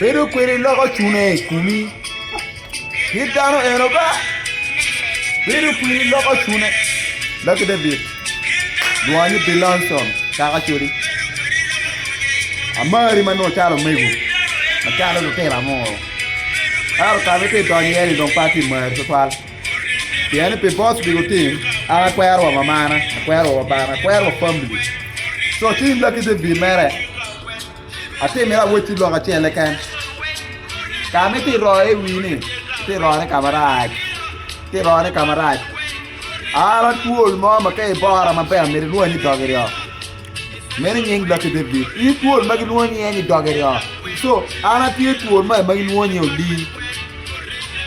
Bedo kwede loko cune i kumi. Kit dano eno ba. Bedo kwede loko cune. Lucky David. Lwonye Bill Armstrong, kaka codi. Amari ma nongo calo omego, macalo lutino angor. Ento ka ma ite idonyo iye-ni dong pe atye mari tutwal. pien ni pi boss pi lutim an akwero wa mamana akwero wa babana akwero wa family co ci in laki te bi mere ati miti awec ci lok acel keken ka ma iti royo i wi ni iti royo ne ka marac iti royo ne ka marac an atwol mo ma ka ibora maber myero inwongo ni idogi oo Meno nying dokke David. Iyi twol ma gilwongo nyinge ni doge ryo. So, an atye twol maye ma gilwongo ni Oli.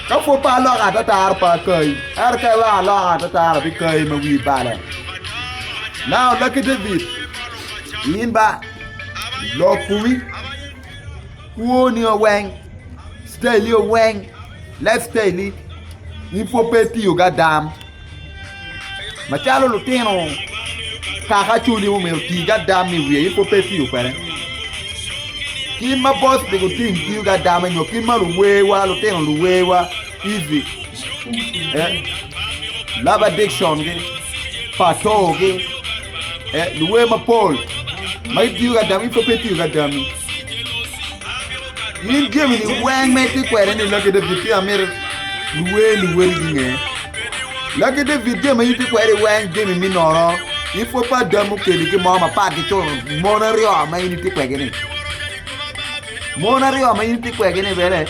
Ka pwod pe aloko atatara pe akayi, ento ka iweko aloko atatara abikayi ma wii bale. Now, Lucky David, in ba lokowi, kwoni o weng, staili o weng, life staili, in pwod pe itiyogi adam. Macalo lutino kaka cwinyi omyero otigo ada me wiye in pud pe itiyo kwede. Kit ma boc pi gutim tiyo ki ada me nyo kit ma luwewa lutino luwewa ivi eh, love addiction gi pato gi eh, luwe mapol ma gitiyo ki adami in pud pe itiyo ki adami. Min jami-ni weng ma itye kwede ni Laki David ci amito luwer luwoti ginge. Laki David jami ma in itye kwede weng jami me noro. In pwod pe ada mukeli ki mo mapat ki co mon aryo ma in itye kwegini. Mon aryo ma in itye kwegini bene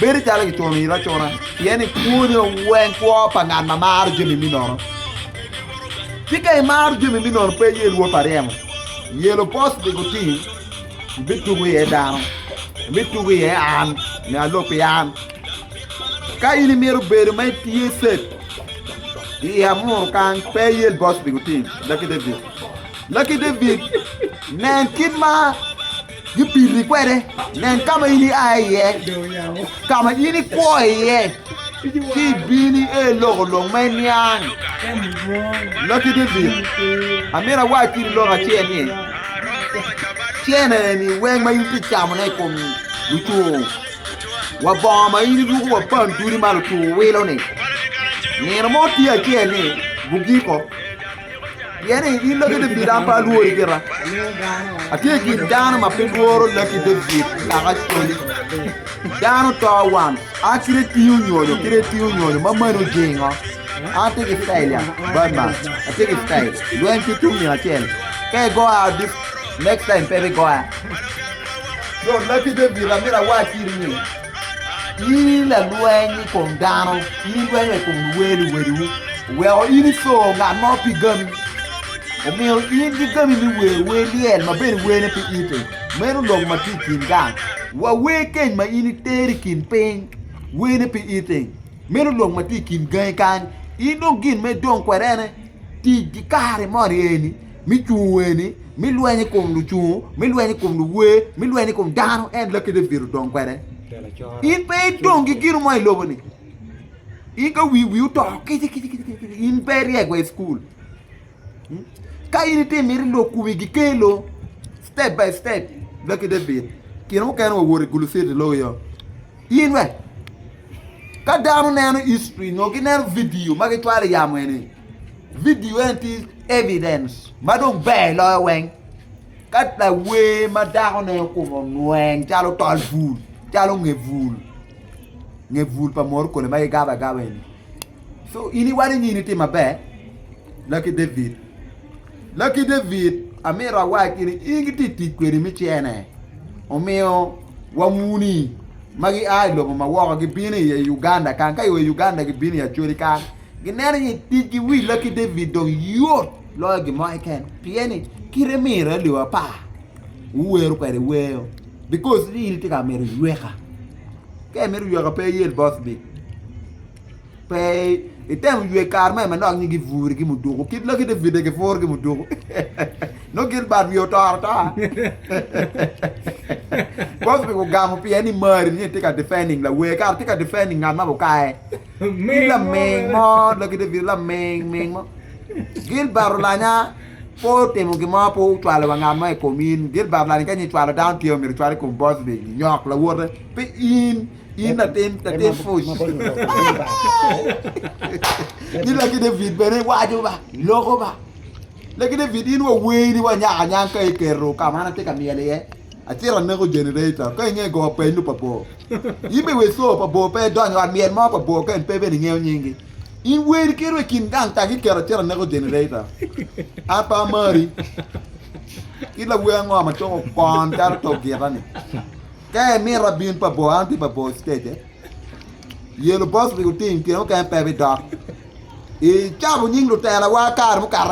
bedo calo kicuno iri acuna pien ni kwoni weng kwo pa ngat ma maro jami me nono. Ci ka imaro jami me nono pe iye lwot pa ryemo, yelo post dye gutim. ibitugo iye dano, ibitugo iye an, nyo alub pi an. Ka in imito bedo ma itye cep i amuru kany, pe iyel bot pi gutim, Lucky David. Lucky David, nen kit ma gipiri kwede, nen ka ma in ia iye, ka ma in ikwo iye. Ci ibini i lok olok ma iniang. Lakit David, amito awac piri lok acel ni, cene-ni weng ma in itye camone i kom lucur wa bongo ma in iruko wa panduli ma lucur wilo-ni, nino mo tye acel ni gugiko. Pien i laki David an pe alwori gira, atye i kin dano ma pe lworo laki David naka coli. Dano to wan, a kit etiyo nyonyo, kit etiyo nyonyo ma mani ojingo. An atye ki tail ya, Batman, atye ki tail, lweny pe tung nino acel. Ka igoya adit, next time pe ibigoya. Yo, laki David, amito awac iri ni, In i lalweny i kom dano, in idwenyo i kom luwer luwedwu. Oweko in ico ngat mo pi gami, omiyo in ki gami me wer wer lyel ma bene werne pi ite. Meno lobo ma tye i kin gang, wa wer keny ma in itero i kin piny, werne pi ite. Meno lobo ma tye i kin gangi kany, in dong gin ma idong kwede en aye tic ki kare moni eni. mi cung weni, mi lweny i kom lucungu, mi lweny i kom luwer, mi lweny i kom dano, en lakede ibito dong kwede. In pe idong ki gino mo i lobo-ni. In ka wi wi oto kici kici kici kici kici, in pe iryek wa i cukul. Hmm? Ka in itye miti lok kumi gikelo step by step laki David kino mukene wa woti gulu city logo yo. In we ka dano neno history nyo gineno video ma gicwalo i yamo eni Vidio eni tye evidens ma dong ber loyo weng ka lawer ma dako ne okobo onweng calo tol bul calo nge bul nge bul pa morokole ma ki gabo agaba eni so in iwaco ni in itye maber Lucky David Lucky David amito awac ni in ki tye tic kwede me cene omiyo wamuni ma gia ilobo ma woko gibino iye Uganda kany ka i oa Uganda gibino i Acholi kany Gineno ni ticgi Willa ki David dong yot loyo gin mo keken, pien ni kite miro aye lyewa apar wuwero kwede wer because ni in itye ka mito yweka. Ka imito yweka pe iyel boss beat, pe itemo ywe kare me manok nyo giburi ki muduku kit Lucky David dong giburu ki muduku nongo Gilbert wiye otoro ata. Boss beat ogamo pien ni mari nyo itye ka defending lawer kara itye ka defending ngat ma bukaye. Ni laming mo, lagi David laming ming mo. Gilbert olanya pe otimo gin mo, pe ocwalo wa ngat mo i kom in. Gilbert olanya ka nyi cwalo dano tye omyero cwalo i kom Bosby, nyok lawote, pe in. In latin, latin puc. Ni lagi David bene waco ba, loko ba. Lagi David in wa weyini wa nyaka nyang ka iketo ka ma an atye ka myel iye. Acito aneko generator, ka inge go peny lupa bor. In bene wek co pa bor pe edony i ot lyel mo pa bor ka en pe bene ingeyo nyingi. In wer iketo i kin gang taki iketo acita neko generator. An pe amari. Kit lawer ango ma coko kwon calo tok gita ni? Ka imito abin pa bor an atye pa bor stage. Yellow box rik oting tyen mukene pe bidok. Icabo nying lutelawa kare mukata.